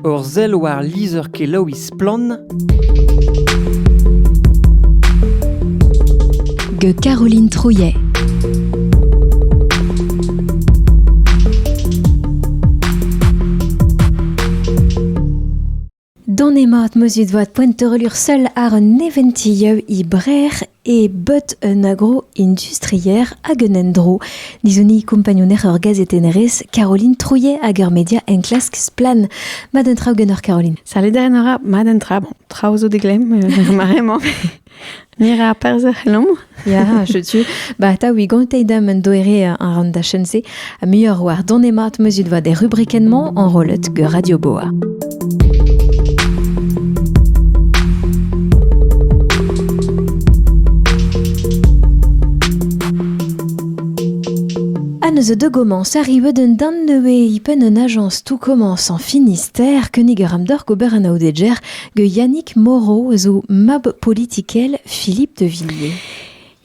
Ur sell war lizher-kelaouiñ Splann! gant Caroline Trouillet. Don emañ at meus et voat poent teurelur seul ar un neventi yeu i brer e bot un agro-industrier hag un endro. Dizuni kompagnouner ur gazetennerez, Caroline Trouillet hag ur media enklask Splan. Mad un traoù genoc'h Caroline. Salut da enora, mad un tra. Bon, traoù zo deglem, euh, maremañ. Mira perzh ec'h Ya, je tu. Ba, ta, wi gantei dam un doere an ran da chen-se. Ha muioc'h war don mat muzit vat er rubrikenn-mañ enrollet gant Radio Boa. Anneus de commence arrive d'un dan neué ipen un agence tout commence en Finistère keniger amdor gober an aodeger ge Yannick Moreau zo mab politikel Philippe de Villiers.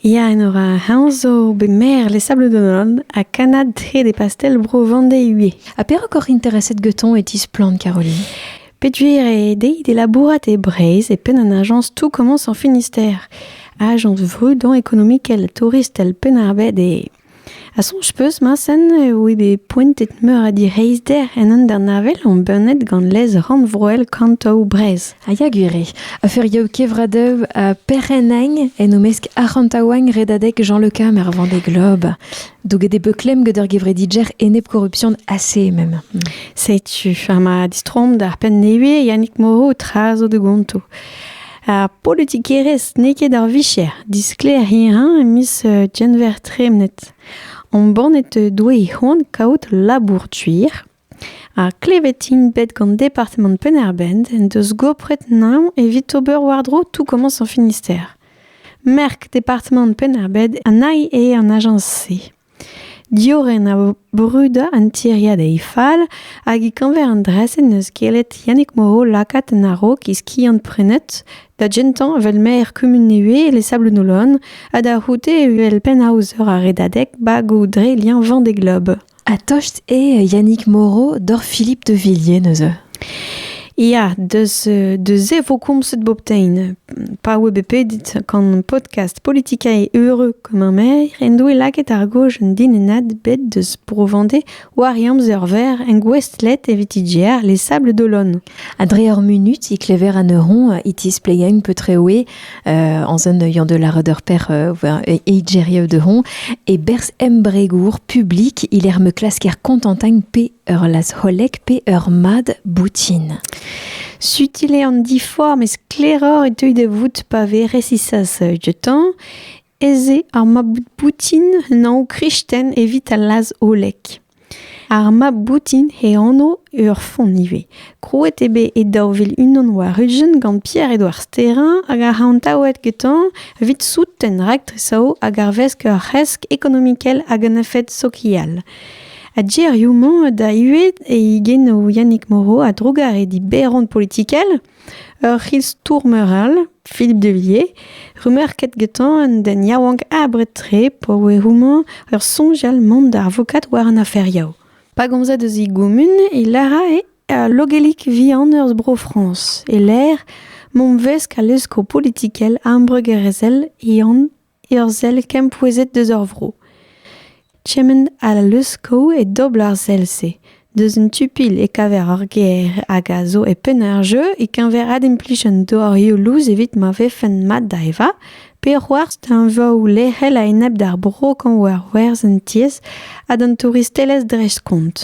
Ya, Enora, heñ zo bet maer Les Sables d'Olonne ha kannad hed e pastell bro Vendée-Hué. Ha perak oc'h intereset getoñ e tisplann, Caroline? Peduer eo dezhi d'e labourat e Breizh e penn an ajañs Tout commence en Finistère, ajañs vrudañ ekonomikel, touristel Penn-ar-Bed eo. Ha soñj 'peus, Mañsen, eo eo bet poentet meur a direizhder en hanternovel embannet gant lez rannvroel Kantoù Breizh. Ha ya gwir eo. A feuriou kevradev ha perc'hennañ en o-mesk arc'hantaouañ redadeg Jean-Le Cam er Vendée Globe. Douget eo bet klemm gant ur gevredigjer enep-korruption assez même. Setu, ha ma distroomp d'ar penn nevez, Yannick Moreau, tra zo da gonto. Ar politikerezh n'eo ket ar vicher. Disklêr hirañ e miz Genver tremenet. Embannet doe he c'hoant kaout labour tuir. Ar klevet int bet gant departamant Penn-ar-Bent en deus gopret naon evit ober war-dro tout komañs ar Finistère. Merk departamant Penn-ar-Bent a nai eo an ajañs-se. Diorren a vo brudañ an tiriad e fall hag e-keñver an dra-se n'eus gellet Yannig Moreau lakaat en a-raok e skiant-prenet da gentañ evel maer kumun Nevez e Sablounolon ha da c'houde evel pennaozer ar Redadeg bagoù dre liañ vent d'e glob. Ha tost eo Yannig Moreau doc'h Philippe de Villiers neuze ? Ya, deus, se vo komzet bobtein. Pa oe bet pedit gant podcast Politika e Heureux Kammermeer en doe lakaet ar goj un dinennad bet deus Bro-Vendée war e amzer-verr en gouestlet evit IGR Les Sables d'Olonne. Ha dre ur munut e klever an eur e tispleia un peu treoe euh, en zon œillant de la redeur per e Igeria de Hon e berz embregour publik il er me klasker kontantagne pe ur lazc'holek pe ur mad boutin. Sutil eo an diforc'h, met sklaeroc'h e teu da vout pa vez resisas dioutañ ez eo ar mab boutin un anv kristen evit al lazholek. Ar mab boutin e anv ur font ivez. Krouet eo bet e daou vil unan war-ugent gant Pierre-Edouard Sterrin hag ar c'hantaouet getañ evit souten raktres hag arvesk ur c'hresk ekonomikel hag un efed sokial. Ha gerioù-mañ da ivez e genoù Yannick Moreau a-drugarez diberon politikel ur c'histour-meur all, Philippe Devilliers, remerket getañ an den yaouank abred-tre pa oe houmañ ur soñjal mont da avokat war an afer Yao. Pa gomzed eus e gumun e lârae al logelik vihan eus Bro-Frañs e-lec'h mont 'vesk al leskoù politikel ambregerezhel e an ur sell kempouezhet deus ur vro. Kement ha leuskel e dobl ar sell-se. Deus un tu-pilh e kaver ur gêr hag a zo e penn ar jeu e-keñver adimplij an dorioù lous evit ma vefen mat da evañ pe c'hoarzh teñvoù lec'hel a-enep d'ar bro kañv war werzh an tiez ha d'an touristelezh dreist-kont.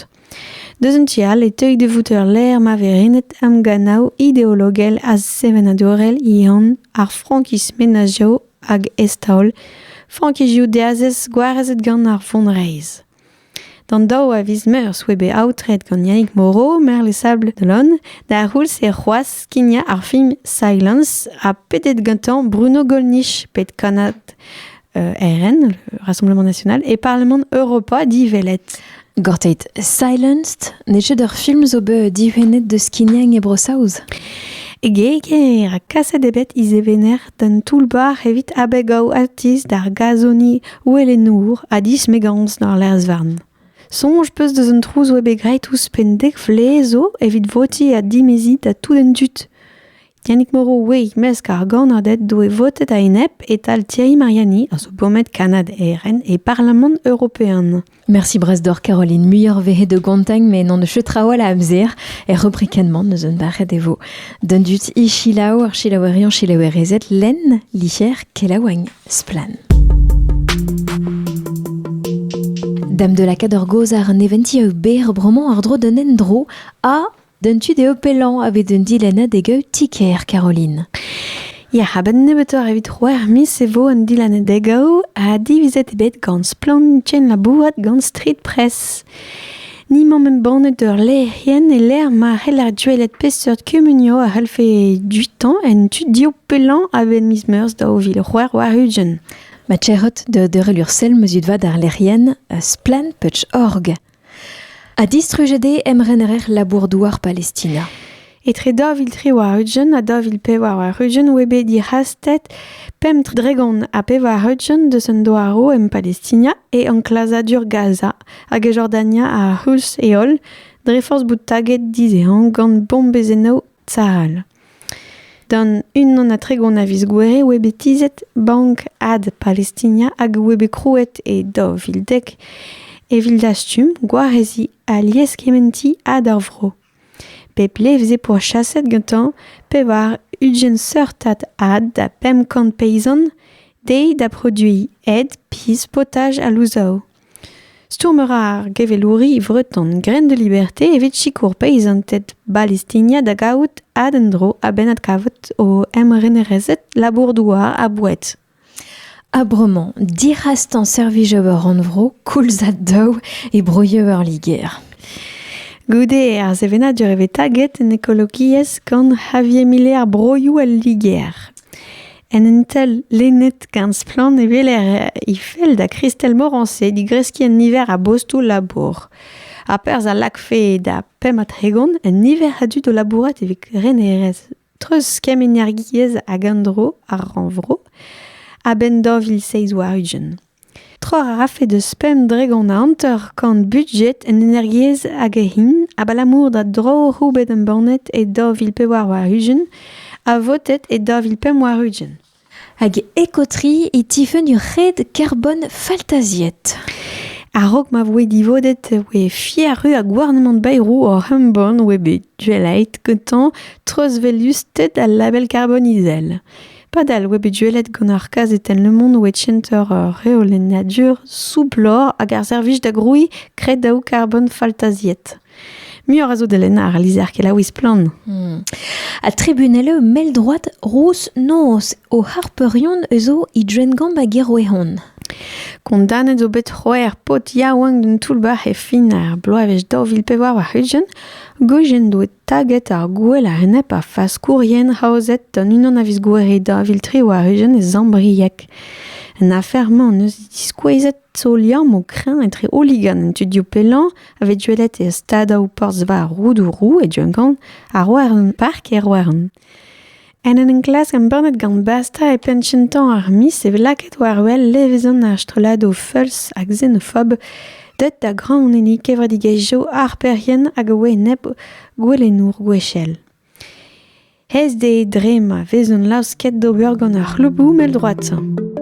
Deus un tu all e teuy da vout ur lec'h ma vez renet emgannoù ideologel ha sevenadurel ehan ar frankiz menazioù hag eztaol frankizioù diazez gwarezet gant ar vonreizh. D'an daou a viz meurzh oa bet aotret gant Yannick Moreau, maer Les Sables de l'Aune, d'ar c'houlz e c'hoazh skignañ ar film Silence ha pedet gantañ Bruno Gollnisch, pet kannad euh, RN, le Rassemblement National, et Parlement Europa, dit Velette. Gorteit Silenced n'eo ket ur film zo bet dihunet deus skignañ e Bro-Saoz. E geger ha kaset eo bet izevener d'an toull-bac'h evit abegaoù atiz d'ar gazoni ouelenour ha dismegañs d'ar lerz-varn. Soñj 'peus deus an trouz oa bet graet ouzhpenn dek vlez zo evit votiñ ha dimeziñ da tout an dud. Yannick Moreau ouez mesk ar gannaded doe votet a-enep e-tal Thierry Mariani a zo bomet Kanad ERN e Parlamant European. Merci brasdor Caroline muioc'h vehe de gontagn me n'an eus traoù a amzer er rubrikenman eus un barret e vo. Dundut i chilaou ar chilaouerion chilaouerezet len, licher, kelaouagn, splan. Dame de la Cador Gozar neventi eo ber broman ar dro d'un endro a D'an tu dezho pellañ a vez un dilennad e gaout ti-kêr Caroline. Ya, a-benn nebeutoc'h evit c'hwec'h miz e vo an dilennad e gaout ha divizet eo bet gant Splann labourat gant Street Press. Ni 'maomp embannet ur lec'hienn e lec'h ma c'heller gwelet peseurt kumunioù a c'hellfe dutañ en tu div pellañ a-benn miz Meurzh daou vil c'hwec'h warn-ugent. Ma tec'hot da deurel ur sell ma zud vat ar lec'hienn Splann.org. Ha distrujet eo emrener labour-douar Palestina. Etre daou vil tri war-ugent ha daou vil pevar war-ugent oa bet dic'hastet pemp dregont ha pevar-ugent deus an douaroù en Palestina e enklazadur Gaza hag e Jordania ar c'houlz e holl dre forzh bout taget dizehañ gant bombezennoù Tal. Gant unan ha tregont a viz Gouere oa bet tizhet Bank Ad Palestina hag oa bet krouet e daou vil dek evit dastum gwareziñ alies kementiñ ad ar vro. Pep levr veze pourchaset gantañ pevar ugent seurtad ad da pemp kant peizant dezhi da produiñ ed, pizh, potaj ha louzaou. Stourm a ra ar gevelouri vreton Graines de Liberté evit sikour peizanted Balestinia da gavout adenn-dro a-benn adkavout o emrenerezed labour-douar ha boued. Ha bremañ, dic'hastañ servij ober rannvro koulz ha daou e broioù ar Liger. Goude ar sevenadur e vez taget en ekologiezh gant Javier Mile ar broioù al Liger. En un tel lennet gant splann e weler he fell da Christelle Morancé digreskiñ un niver a bostoù labour. Ha perzh a lakfe da pemp ha tregont un niver a dud o labourat evit renerezh treuz kemm-energiezh hag an dro ar rannvro a-benn daou vil seizh warn-ugent. Trec'h a rafe deus pemp dregont a hanter-kant budjed en energiezh hag hin abalamour da droioù bet embannet e daou vil pevar warn-ugent ha votet e daou vil pemp warn-ugent. Hag ekotri e tifenn ur red karbon faltaziet. A-raok ma voe divodet e voe fiaru ha gouarnamant Bayrou oc'h embann oa bet duelait gantañ treuzvelusted al label karbon izel. Padal oa bet gwelet gant ar kazetenn Le Monde oa center reolennadur soublor hag ar servij da grouiñ kredaoù karbon faltaziet. Muioc'h a zo da lennañ ar lizher kelaouiñ splann. Hmm. Ha tribunel eo mell droad rouz noz o harpeurion eus o he drengamp hag e roehon. Kondanet zo bet c'hwec'h paotr yaouank d'un toull-bac'h e fin ar bloavezh daou vil pevar war-ugent, goujen doet Taget ar gouel a-enep ar faskourien aozet gant unan a viz Gouere daou vil tri war-ugent e Zambrieg. An afer-mañ en deus diskouezet zo liamm o kreñv etre hooligan an tudioù pellañ a vez gwelet e stadoù porzh-veur Roudourou e Duncan ha Roerland Park e Roerland. En en enklask embannet gant Basta e penn kentañ ar miz e vez lakaet war-wel levezon ar strolladoù feuls ha xenophob deuet da graoñenniñ kevredigezhioù harperien hag a oa enep gouelennour gwechall. Aes dezhe dre ma vezont laosket d'ober gant ar c'hlouboù mell-droad-sañ.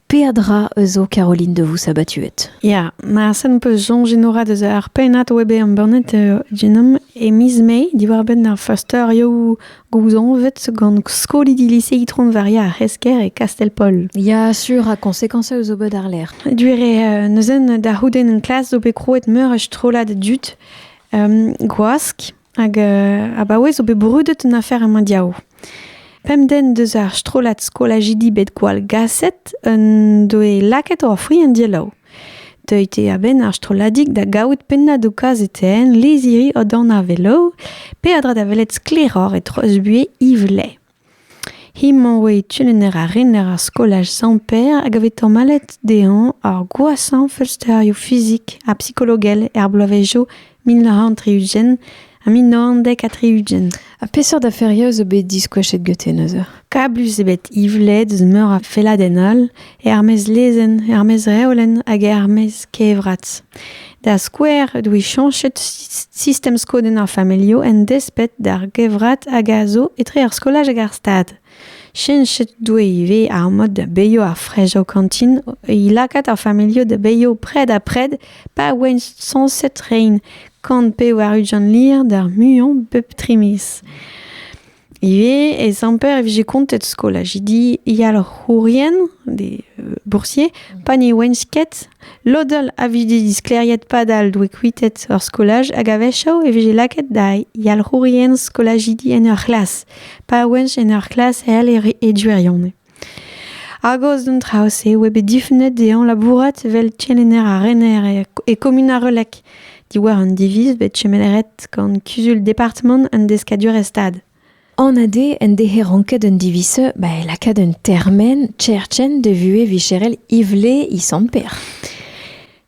Peadra eus zo Caroline de vous sabatuet. Ya, ma sen peus soñj enorat eus ar pennad web embannet uh, genom e miz Mai diwar-benn ar feursterioù gouzañvet gant skolidi lise Itron-Varia ar C'hesker e Kastell-Pol. Ya, sur ha konsekans eus ober d'arlerc'h. Duere uh, neuzen da c'houdenn en klas zo bet krouet meur a strollad dud um, gwask Hag euh, abaoe zo bet brudet un afer a mondial. Pemden deus ar strollad skolajidi bet gwall gaset un doe lakaet o fri en dielaou. Deuit eo a-benn ar strolladik da gaout pennañ do kazetenn leziri o dan a velo, pe a dra da welet sklaeroc'h e trosbuier Yves Lay. He-mañ 'oe kelenner ha rener ar skolaj Sant-Pêr hag a vez tamallet dezhañ ar gwashañ feulsterioù fizik ha psikologel er bloavezhioù mil nav c'hant tri-ugent ha mil nav c'hant dek ha tri-ugent. Ha peseurt aferioù zo bet diskoachet gete neuze? Kablus eo bet Yvled eus meur a felladenn all er-maez lezenn, er-maez reolenn hag er-maez kevrat. Da skouer, e doe chañchet sistem skodenn ar familhoù en desped d'ar gevrat hag a zo etre ar skolaj hag ar stad. Chenchet doe ivez ar mod da beilho ar frej o kantin, e lakaat ar familhoù da beilho pred ha pred pa oent sañset rein, kant pe war ujan lir d'ar muiañ bep tri miz. Ivez ez amper e vije kontet skolaj. Di yalc'hourien, des euh, boursiers, pa ne ouent ket, lodel a vije diskleriet padal doe kuitet ur skolaj hag a-wechoù e vije lakaet da yalc'hourien skolajidi en ur c'hlas, pa ouent en ur c'hlas hel e e duirionez. Hagos d'an traoù-se oa bet difunet dezhañ labourat evel kelenner ha rener e kumun ar Relec diwar un diviz bet chomet ret gant kuzul departamant an deskadurezh-stad. An ade en dehe ranket un diviz ba e lakaat un termen, Cherchen, de vuhez vicherel Ivle Isamper.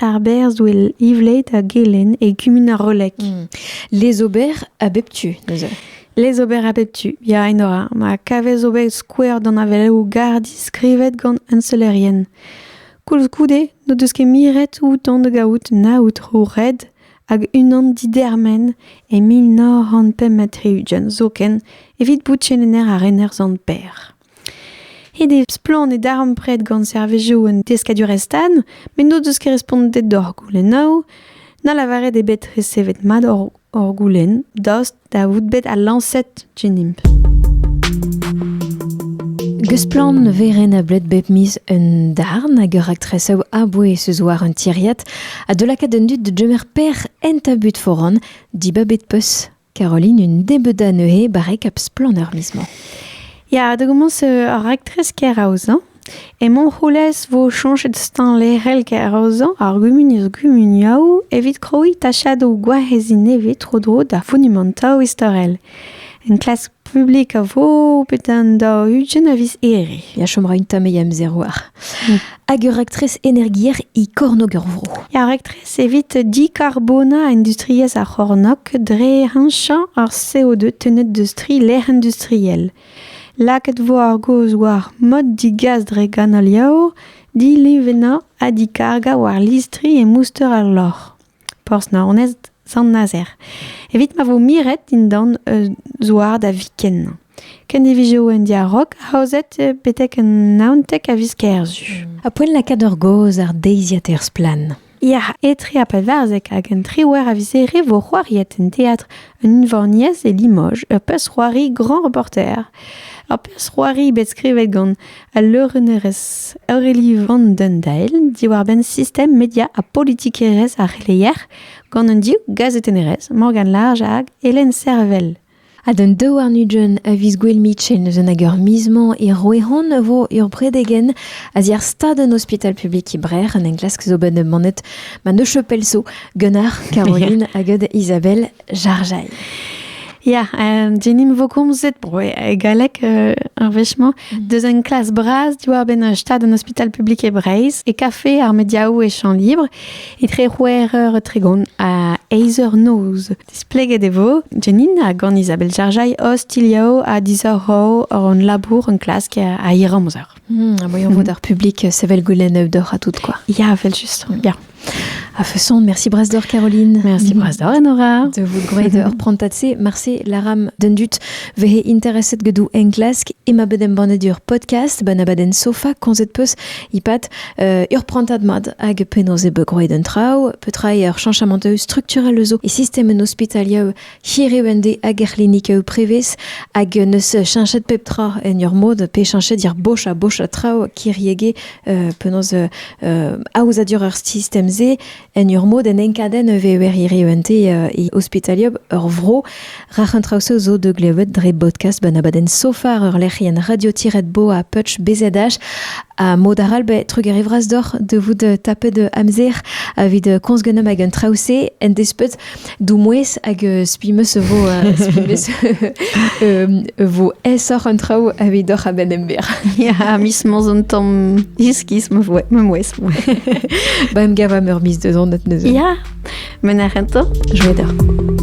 Ar berr zo ivlaet a gelenn e kumun ar Roleg. Hmm. Les ober a bep tu, neuze. Les ober a bep tu, ya, Enora. Ma kavez ober skouer d'an aveleoù gardi skrivet gant unselerien. Koulskoude, n'o deus ket miret outan da gaout na outro red hag unan didermen e mil nav c'hant pemp ha tri-ugent, zoken, evit bout chenener ar rener zant Per. Ret eo splann e darempred gant servijoù un deskadurezh-tan met n'o deus ket respontet d'hor goulennoù, na lavaret eo bet resevet mat hor goulenn daoust da vout bet al lañset dinimp. Gesplann ne vez renablet bep miz un darn hag ur raktresoù a-bouez eus war un tiriad ha de lakaat an dud da gemer per en tabut foran dibabet peus Caroline, une débeuda neuze barrek ap splanner miz-mañ. Ya, da gommons ar raktres keraozañ. E Montroulez vo chañchet stañ lec'hel keraozañ ar gumuniezh gumuniaoù evit krouiñ tachadoù gwareziñ nevez tro-dro d'ar fonumantoù istorel. Enklask publik a vo bet an daou ugent a viz Here. Ya chom ra un tamm e amzer war. Hag ur raktres energier e kornôg ur vro. Ar raktres evit dicarbona industriezh ar c'hornôg dre heñchañ ar CO2 tennet deus tri lec'h industriel. Lakaet vo ar gaoz war mod digas dre ganoliaoù, dilevennañ ha dikargañ war listri e mouster ar loc'h. Porzh-Naoned, Sant-Nazer, evit ma vo miret dindan un zouar da viken. Kendivizoù un diarog aozet betek un naontek a viz kerzu. A poent lakaat ur gaoz ar deiziad er splann. Ya, etre a pevarzek hag un triwec'h a vizere vo c'hoariet en teatr un unvaniez e Limoges, ur pezh-c'hoari grand reporter. Ur pezh-c'hoari bet skrivet gant al leurennerez Aurélie Van den Dael diwar-benn sistem media ha politikerezh ar c'heleier gant an div gazetennerez Morgane Large hag Hélène Servel. Ha d'an daouarn Nugent a viz gwell mitchen eus hag ur miz-mañ e Roehon vo ur bredegen a ziar stad an ospital publik e Brer en enklask zo bet manet ma ne chopel so gant ar Caroline hag Isabelle Jarjail. Ya, um, Jenim vokomzet bro e galleg euh, ar wechemañ, mm. deus un klas bras diwar-benn un stad un hospital publik e Breizh, e kafe ar mediaoù e champ libre, etre c'hwec'h eur e tregont ha eizh eur noz. Displeget e vo, Jenin hag an Isabel Jarjail ostilhao a disoc'h hor hon labour un klask a hir amzer. Hmm, voyons mm. votre public sevel goulenn d'or à tout quoi. Ya, vel juste. Ya. A façon, merci Brasse d'Or Caroline. Merci Brasse d'Or Nora. De vous grøy d'or prontatse marse laram dendut vehe interesset gedu en klask ima bedem bannet ur podcast bana baden sofa konzet peus ipat uh, ur prantat mad hag penoz e begrøy den trau petra ur chanchament structurel eus e system en hospitalia Hiriv en dez hag er c'hlinik eu prevez hag neus cheñchet pep tra en ur mod pe cheñchet yar boch ha boch a traoù kiriege euh, penaos euh, euh, aozadur ur sistem-se en ur mod en enkadenn e vever hiriv en dez euh, e ospitaliop ur vro. Rac'h an traoù-se zo de glevet dre podcast ben abadenn sofar ur lec'hienn radio-bo a Putsch BZH ha mod aral be trugarevras doc'h de vout tapet amzer avit komz genom hag an traoù-se en despet Doumouez hag euh, spi meus e vo euh, spi meus e vo aesoc'h an traoù avidoc'h a-benn ember. Ya, mis mos un tamm iskis ma voe, ma mouez. Ba em gavam ur mis deus anat neuze. Ya, men ar rento, joa deoc'h.